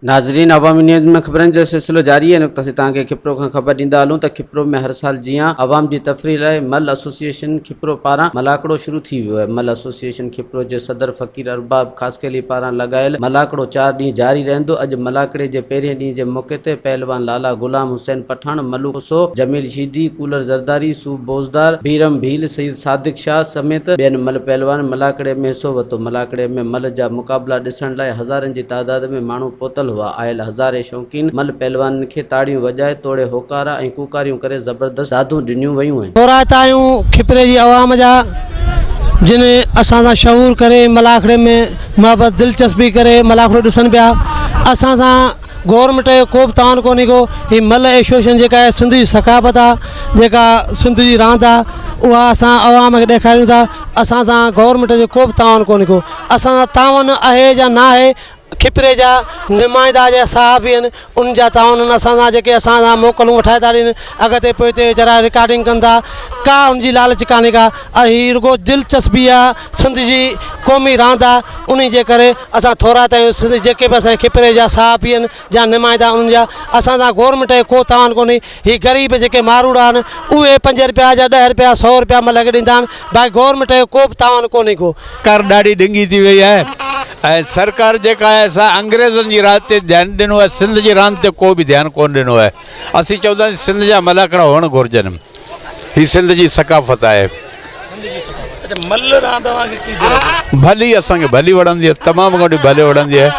ناظرين عوامي نيوز ۾ خبرن جو سلسلو جاري آهي ان وقت اسين توهان کي کپرو کان خبر ڏيندا هلون ته کپرو ۾ هر سال جيان عوام جي تفريح لاء مل ايسوسيئيشن کپرو پاران ملاکڙو شروع ٿي ويو آهي مل ايسوسيئيشن کپرو جي صدر فقير ارباب خاصخيلي پاران لڳايل ملاکڙو چار ڏينهن جاري رهندو اڄ ملاکڙي جي پهرين ڏينهن جي موقعي تي پهلوان لالا غلام حسين پٺاڻ ملو سو جميل شيدي، ڪولر زرداري، صوب بوزدار، بيرم ڀيل، سيد صادق شاهه سميت ٻين ملهه پهلوانن ملاکڙيء ۾ حصو ورتو. ملاکڙيء ۾ ملهه جا مقابلا ڏسڻ لاء هزارين جي تعداد ۾ ماڻهو پهتل هئا. آيل هزارين شوقين ملهه پهلوانن کي تاڙيون وڄائي توڙي هوڪارا ۽ ڪوڪاريون ڪري زبردست دادون ڏنيون ويون ۽. ٿورائتا آهيون کپري جي عوام جا جن اسان سان شعور ڪري ملاکڙي ۾ محبت دلچسپي ڪري ملاکڙو ڏسن پيا اسان سان. گورنمينٽ جو ڪوبه تاوان ڪونهي ڪو هي ملهه ايشوشن جيڪا آهي سنڌ جي ثقافت آ جيڪا سنڌ جي راند آ اها اسان عوام کي ڏيکاريون ٿا اسان سان گورنمينٽ جو ڪوبه تاوان ڪونهي ڪو اسان سان تاون اهي جا نا اهي کپري جا نمائندا جا صحافي ان ان جا تاون ان اسان سان جيڪي اسان سان موڪلون وٺائي ٿا ڏين اڳتي پوئتي ويچارا رڪارڊنگ ڪن ٿا ڪا ان جي لالچ ڪانهي ڪا اهي رڳو دلچسپي آ سنڌ جي قومي راند آ انھي جي ڪري اسان ٿورا تايون سنڌ جيڪي به اسان جي کپري جا صحافي ان جا نمائندا انھن جا اسان سان گورمينٽ کي ڪو تاوان ڪونھي ھي غريب جيڪي ماروئڙا ان اھي پنج رپيا جا ڏھ رپيا سو رپيا ملڪ کي ڏيندا ان باقي گورمينٽ کي ڪو به تاوان ڪونھي ڪو. سرڪار ڏاڍي ڏنگي ٿي وئي آھي ۽ سرڪار جيڪا آھي سا انگريزن جي راڄ تي ڌيان ڏنو آھي سنڌ جي راند تي ڪو به ڌيان ڪون ڏنو آھي. اسين چونداسين سنڌ جا مل ھڪڙا ھئڻ گھرجن ھي سنڌ جي ثقافت آھي. ڀلي اسان کي ڀلي وڻندي آھي تمام گھڻي ڀلي وڻندي آھي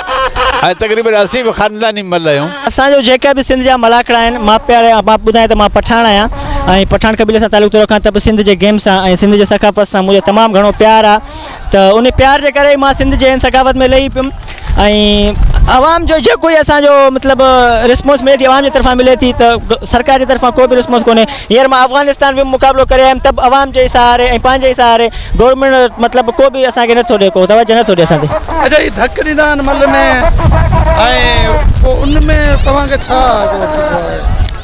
۽ تقريبن اسين به خانداني مل آھيون. اسان جو جيڪا به سنڌ جا ملاکڙا آھن مان پيار مان ٻڌايان ته مان پٺاڻ آھيان ۽ پٺاڻ قبيلي سان تعلق ٿو رکان ته به سنڌ جي گيم سان ۽ سنڌ جي ثقافت سان منھنجو تمام گھڻو پيار آھي. ته ان پيار جي ڪري ئي مان سنڌ جي هن ثقافت ۾ لهي پيم ۽ عوام جو جيڪو هي اسان جو مطلب رسپانس ملي ٿي عوام جي طرفان ملي ٿي ته سرڪار جي طرفان ڪو به رسپانس ڪونهي هينئر مان افغانستان ويم مقابلو ڪري آيم ته به عوام جي سهاري ۽ پنهنجي ئي سهاري گورنمينٽ مطلب ڪو به اسان کي نٿو ڏي ڪو توجه نٿو ڏي اسان تي اچا هي ڌڪ ڏيندا آهن مل ۾ ۽ پوء ان ۾ توهان کي ڇا ٿيندو آهي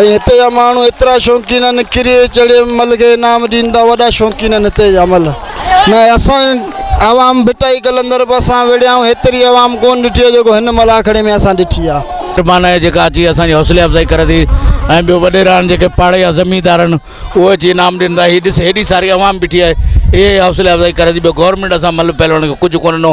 ۽ هتي جا ماڻهو ايترا شوقين آهن ڪري چڙي مل کي انعام ڏين ٿا وڏا شوقين آهن هتي جا مل نه اسان عوام ڀٽائي قلندر به اسان وڙهيا آهيون هيتري عوام ڪون ڏٺي آهي جيڪو هن مل آکڙي ۾ اسان ڏٺي آهي. مهربان آهي جيڪا اچي اسان جي حوصلي افزائي ڪري ٿي ۽ ٻيو وڏيرا آهن جيڪي پاڙي جا زميندار آهن اهي اچي انعام ڏين ٿا هي ڏس هيڏي ساري عوام بيٺي آهي اهي حوصلي افزائي ڪري ٿي ٻيو گورنمينٽ اسان مل پهلوان کي ڪجهه ڪون ڏنو